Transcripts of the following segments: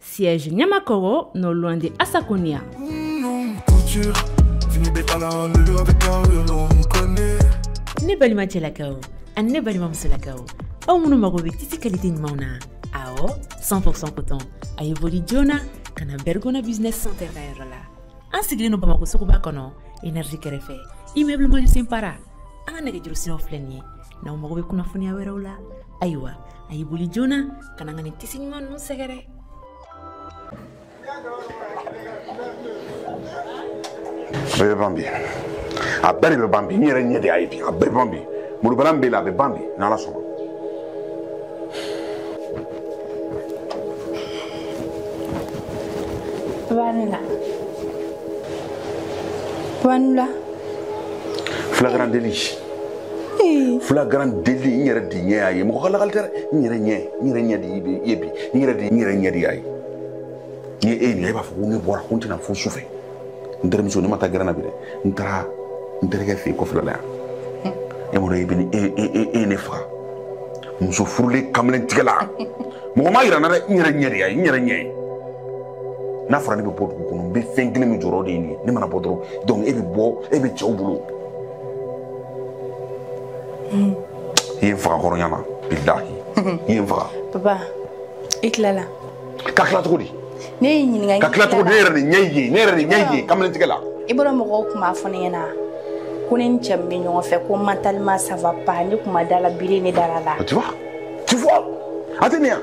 Siège Niamakoro, non loin de Asaconia. Ne balimacɛlakaw ani ne balimamusolakaw aw minnu mago bɛ tisi kalite ɲumanw na awɔ 100% coton a ye boli joona ka na bergona business center ka yɔrɔ la an sigilen don bamako suguba kɔnɔ énergie kɛrɛfɛ immeuble mandjou simpara an ka nɛgɛjuru siraw filɛ nin ye n'aw mago bɛ kunnafoniya wɛrɛw la ayiwa a y'i boli joona ka na ka nin tisi ɲuman ninnu sɛgɛrɛ bɛɛ bɛ ban bi a bɛɛ de bɛ ban bi n yɛrɛ ɲɛ de y'a ye bi a bɛɛ bɛ ban bi malobaliya min b'i la a bɛ ban bi n'ala sɔnna Vanilla. Vanilla. Flagrant délit. flagrant délit n yɛrɛ de ɲɛ y'a ye mɔgɔ ka lagali tɛ dɛ n yɛrɛ ɲɛ n yɛrɛ ɲɛ de ye bi n yɛrɛ de n yɛrɛ ɲɛ de y'a ye n'i ye e ɲininka e b'a fɔ ko ne bɔra ko n tɛna fo su fɛ n terimuso ne ma taa gɛrɛn na bi dɛ n taara n terikɛ fɛ yen kɔfɛla la yan e m'a dɔn e bɛ ne e e e ye ne faga muso furulen kamalen tigɛ la mɔgɔ m'a yira n na dɛ n yɛrɛ ɲɛ de y'a ye n yɛrɛ ɲɛ ye n'a fɔra ne bɛ bɔ dugu kɔnɔ n bɛ fɛn kelen min jɔrɔ de ye nin ye ne mana bɔ dɔrɔn donc e bɛ bɔ e bɛ cɛw bolo i ye n faga kɔrɔnya na bilahi i ye n faga papa i tilala ka tila cogo di ne y'i ɲininka ka tila cogo di ne yɛrɛ de ɲɛ y'i ye ne yɛrɛ de ɲɛ y'i ye kamalen tigɛ la i b'a dɔn mɔgɔw tun b'a fɔ ne ɲɛna ko ne ni cɛ min bɛ ɲɔgɔn fɛ ko mentalement ça va pas ne tun ma da a la bi ne dara a la tu vois tu vois a tɛ nin yan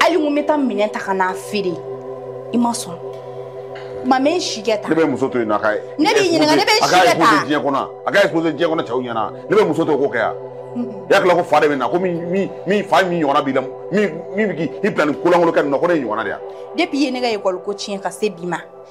hali n ko n bɛ taa minɛn ta ka n'a feere i ma sɔn ma mɛ n si kɛ ta ne bɛ muso to yen nɔ a ka ne b'i ɲininka ne bɛ si kɛ ta a ka exposer diɲɛ kɔnɔ a ka exposer diɲɛ kɔnɔ cɛw ɲɛna ne bɛ muso to k'o kɛ yan i y'a tila ko fa de bɛ n na ko min min min fa min ɲɔgɔnna b'i la min min bɛ k'i bila nin ko lankolon kɛ nin na ko ne y'i ɲɔgɔnna de ye wa depuis i ye ne ka école ko tiɲɛ ka se bi ma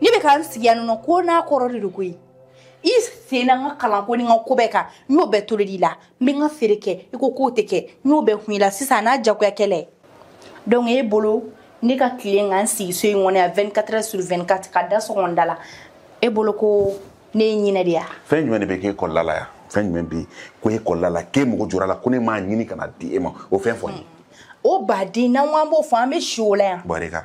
ne bɛ ka n sigi yan nɔ ko n'a kɔrɔ de don koyi i sen na n ka kalanko ni n ka ko bɛɛ kan n y'o bɛɛ tolodi i la n bɛ n ka feere kɛ i ko k'o tɛ kɛ n y'o bɛɛ kun i la sisan n'a jagoya kɛlen don e bolo ne ka tile ka n sigi so in kɔnɔ yan 24 heures sur 24 ka da sɔgɔ n da la e bolo ko ne ye ɲinɛ de ya fɛn jumɛn de bɛ k'e kɔlɔla la yan fɛn jumɛn bɛ ko e kɔlɔla la k'e mago jɔra a la ko ne m'a ɲini ka n'a di e ma o fɛn fɔ n ye o baden n'an ko an b'o fɔ an bɛ si o la yan bɔrɛ kan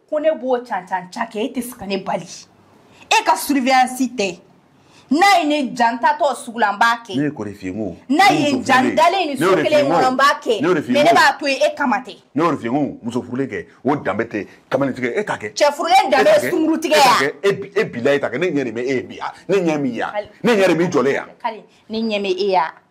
ko ne b'o cancan ca kɛ e tɛ se ka ne bali e ka surveillance tɛ n'a ye ne diya n taatɔ sugu la n b'a kɛ ne ye kɔri f'i ye n ko n'a ye n diya n dalen ni so kelen kɔnɔ n b'a kɛ mais ne b'a to yen e kama tɛ ne y'o de f'i ye n ko muso furulen kɛ o danbe tɛ kamalen tigɛ e t'a kɛ cɛ furulen danbe ye sungurun tigɛ ya e bila e t'a kɛ ne ɲɛ de bɛ e ye bi ne ɲɛ min ye ne ɲɛ de b'i jɔlen ya ne ɲɛ bɛ e ya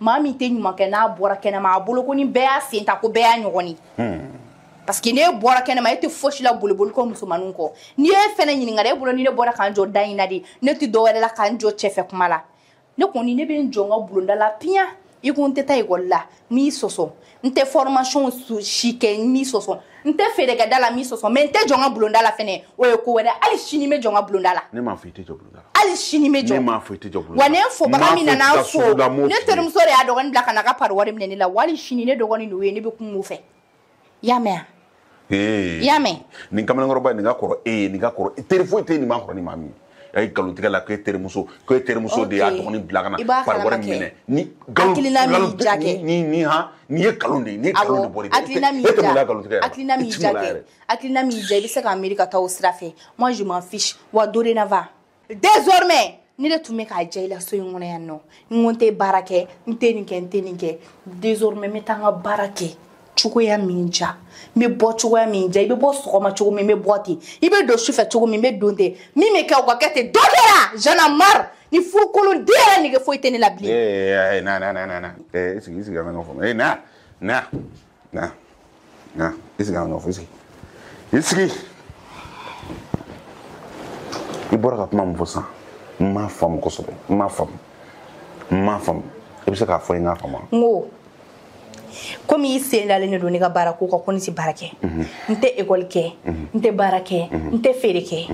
maa min tɛ ɲuman kɛ n'a bɔra kɛnɛma a bolo ko ni bɛɛ y'a sen ta ko bɛɛ y'a ɲɔgɔn ye hmm. parce que n'e bɔra kɛnɛma e tɛ fosi la boliboli kɔ musomaninw kɔ ni e fɛnɛ ɲininkara e bolo ni ne bɔra ka n jɔ da in na de ne tɛ dɔwɛrɛ la ka n jɔ cɛfɛ kuma la ne kɔni ne bɛ n jɔ n ka bulonda la piyan i ko n tɛ taa ekɔli la n m'i sɔsɔ n tɛ formation si kɛ n m'i sɔsɔ n tɛ feere kɛ da la n m'i sɔsɔ mais n tɛ jɔ n ka bulonda la fɛnɛ o ye ko wɛrɛ hali sini n bɛ jɔ n ka bulonda la ne m'a fɔ i tɛ jɔ bulonda la hali sini n bɛ jɔ ne m'a fɔ i tɛ jɔ bulonda la wa ne fobaga min nana n fo ne terimuso de y'a dɔgɔnin bila ka na ka pari wari minɛ ne la wa hali sini ne dɔgɔnin de y'o ye ne bɛ kuma o fɛ i y'a mɛn wa i y'a mɛn nin kamalenkɔrɔba nin ka kɔrɔ e ye nin ka kɔrɔ teri foyi tɛ nin ma kɔrɔ ni maa min a ye nkalon tigɛ la k'e terimuso k'e terimuso de y'a dɔgɔnin bila ka na pari wari minɛ ni hakilina min ja kɛ ni ni han n'i ye nkalon de ye n'i ye nkalon de bɔr'i hakilina min ja hakilina min ja kɛ hakilina min ja i bɛ se k'a miiri ka taa o sira fɛ moi je m'en fiche wa dorénavant désormais ni ne tun bɛ k'a diya i la so in kɔnɔ yan nɔ n ko n tɛ baara kɛ n tɛ nin kɛ n tɛ nin kɛ désormais n bɛ taa n ka baara kɛ cogoya min ja n bɛ bɔ cogoya min ja i bɛ bɔ sɔgɔma cogo min n bɛ bɔ ten i bɛ don sufɛ cogo min n bɛ don ten min bɛ kɛ o ka kɛ ten dɔ kɛra j'en ai marre nin furukolon den yɛrɛ nege foyi tɛ ne la bilen. ee na na na na ee sigi sigi an ka ɲɔgɔn faamu ee na na. na na i sigi an ka ɲɔgɔn faamu i sigi i sigi i bɔra ka kuma min fɔ sisan n m'a faamu kosɛbɛ n m'a faamu n m'a faamu i bɛ se k'a fɔ n k'a faamu n ko komi i sen dalen de don ne ka baara ko kan ko ne tɛ baara kɛ n tɛ ekɔli kɛ n tɛ baara kɛ n tɛ feere kɛ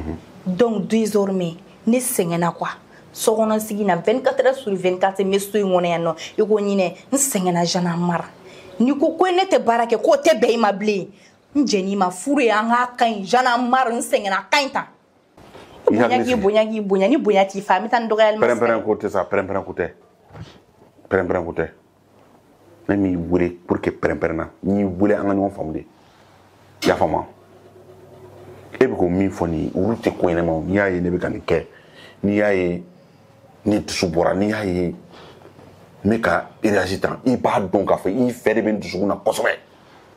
donc désormais ne sɛgɛnna quoi sokɔnɔ sigi na 24 heures sur 24 n bɛ so in kɔnɔ yan nɔ i ko ɲinɛ n sɛgɛnna j'en ai marre n'i ko ko ne tɛ baara kɛ k'o tɛ bɛn i ma bilen n jɛn'i ma furu ye an k'a ka ɲi j'en ai marre n sɛgɛnna a ka ɲi tan bonya k'i bonya k'i bonya ni bonya t'i fa an bɛ taa ni dɔgɔyali ma pɛrɛnpɛrɛn ko tɛ sa pɛrɛnpɛrɛn ko tɛ pɛrɛnpɛrɛn ko tɛ ne m'i wele pour que pɛrɛnpɛrɛn na n y'i wele an ka ɲɔgɔn faamu de i y'a faamu e bɛ ko min fɔ nin olu tɛ ko ɲɛnɛmaw n'i y'a ye ne bɛ ka nin kɛ n'i y'a ye ne dusu bɔra n'i y'a ye n bɛ ka réagir tan i b'a dɔn k'a fɔ i fɛ de bɛ n dusukun na kosɛbɛ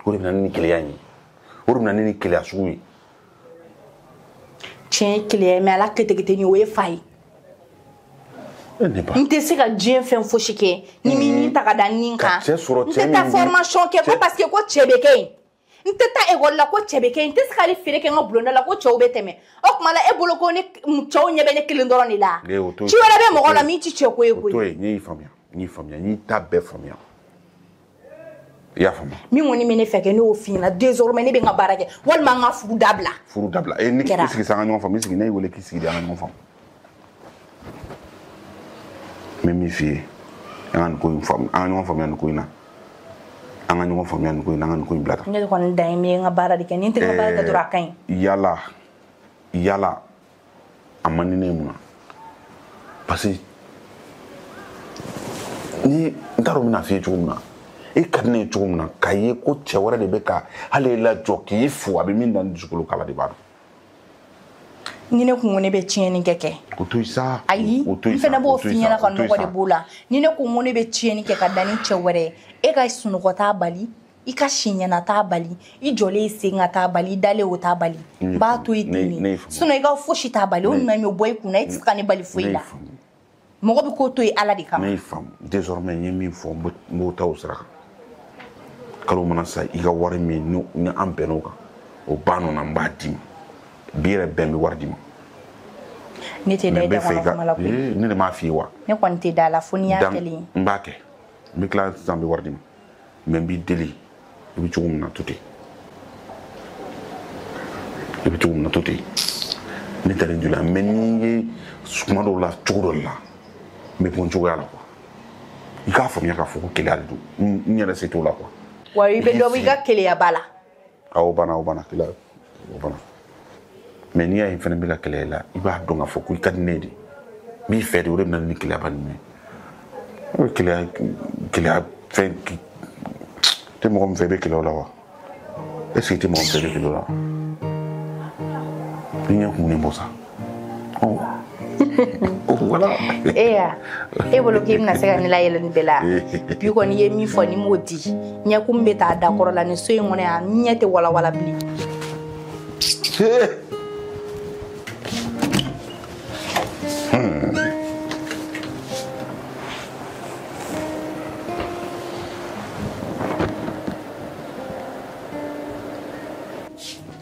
o de bɛ na ni nin keleya in ye o de bɛ na ni nin keleya sugu ye tiɲɛ keleya mais a la ketekete ni o ye fa ye n tɛ se ka diɲɛ fɛn fosi kɛ n'i ma nin ta ka da nin kan n tɛ taa formation kɛ ko parce que ko cɛ bɛ kɛ yen n tɛ taa ekɔli la ko cɛ bɛ kɛ yen n tɛ se ka hali feere kɛ n ka bulonda la ko cɛw bɛ tɛmɛ o tuma la e bolo ko ne cɛw ɲɛ bɛ ne kelen dɔrɔn de la ci wɛrɛ bɛ mɔgɔ la min tɛ cɛ ko ye koyi n y'i faamuya n y'i faamuya n y'i ta bɛɛ faamuya i y'a faamu min kɔni bɛ ne fɛ kɛ ne y'o f'i ɲɛna désormais ne bɛ n ka baara kɛ walima n ka furu dabila furu dabila e nin kɛra. i sigi sa an ka ɲɔgɔn faamu i sigi ne y'i wele k'i sigi de an ka ɲɔgɔn faamu n bɛ min f'i ye an ka nin ko in faamu an ka ɲɔgɔn faamuya nin ko in na an ka ɲɔgɔn faamuya nin ko in na an ka nin ko in bila tan ne kɔni dan ye min ye n ka baara de kɛ ni n tɛ n ka baara kɛ dɔrɔn a ka ɲi yala yala a man di ne ye mun na parce que ni n t'a dɔn n bɛn'a f'i ye cogo min na i ka di ne ye cogo min na k'a ye ko cɛ wɛrɛ de bɛ ka hali e lajɔ k'i fo a bɛ min da ne dusukolo kan ala de b'a dɔn ni ne kun ko ne bɛ tiɲɛni kɛ kɛ o to sa ayi n fana b'o f'i ɲɛna ka nɔgɔ de b'o la ni ne kun ko ne bɛ tiɲɛni kɛ ka da ni cɛ wɛrɛ ye e ka sunɔgɔ t'a bali i ka si ɲɛna t'a bali i jɔlen i sen kan t'a bali i dalen o t'a bali n b'a to i ten ne sinɔn i ka fosi t'a bali o nana ɲɔ bɔ i kun na i tɛ se ka ne bali foyi la mɔgɔ bɛ ko to yen ala de kama ne y'i faamu désormais n ye min fɔ n b'o ta o sira kan kalo mana sa i ka wari min ni an bɛnn'o kan o banna n b'a d'i ma bi yɛrɛ bɛ n bɛ wari d'i ma ne tɛ da i da kɔnɔ kuma la koyi eh, ne de m'a f'i ye wa ne kɔni tɛ da la fo n'i y'a kɛlen n b'a kɛ n bɛ tila sisan n bɛ wari d'i ma mais n b'i deli i bɛ cogo min na to ten i bɛ cogo min na to ten ne tɛ nin joli la mais n'i ye kuma dɔw la cogo dɔ la n bɛ bɔ n cogoya la quoi i k'a faamuya k'a fɔ ko keleya de don n yɛrɛ se t'o la quoi wa i bɛ dɔ bɔ i ka keleyaba la a o banna o banna kila o banna mais n'i y'a ye n fɛnɛ bɛ ka kele i la i b'a dɔn k'a fɔ ko i ka di ne de n b'i fɛ de o de bɛ na ni keleyaba ninnu ye o ye keleya keleya fɛnɛ i tɛ mɔgɔ min fɛ i bɛ kele o la wa est ce que i tɛ mɔgɔ min fɛ i bɛ kele o la wa i ɲɛ kumunen bɔ sa e ya e bolo k'i bɛna se ka ne layɛlɛ nin bɛɛ la bi kɔni i ye min fɔ n'i m'o di ɲɛkumu nin bɛ taa dakɔrɔ la nin so in kɔnɔ yan ɲɛ tɛ walawala bilen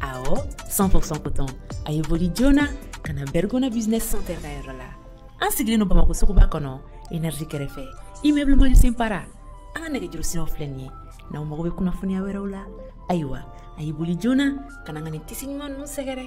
awɔ 100% coton a ye boli joona ka na bergona business center ka yɔrɔ la an sigilen don bamakɔ suguba kɔnɔ energie kɛrɛfɛ immeuble manusen para an ka nɛgɛjuru siraw filɛ nin ye n'aw mago bɛ kunnafoniya wɛrɛw la ayiwa a ye boli joona ka na ka nin tissu ɲuman ninnu sɛgɛrɛ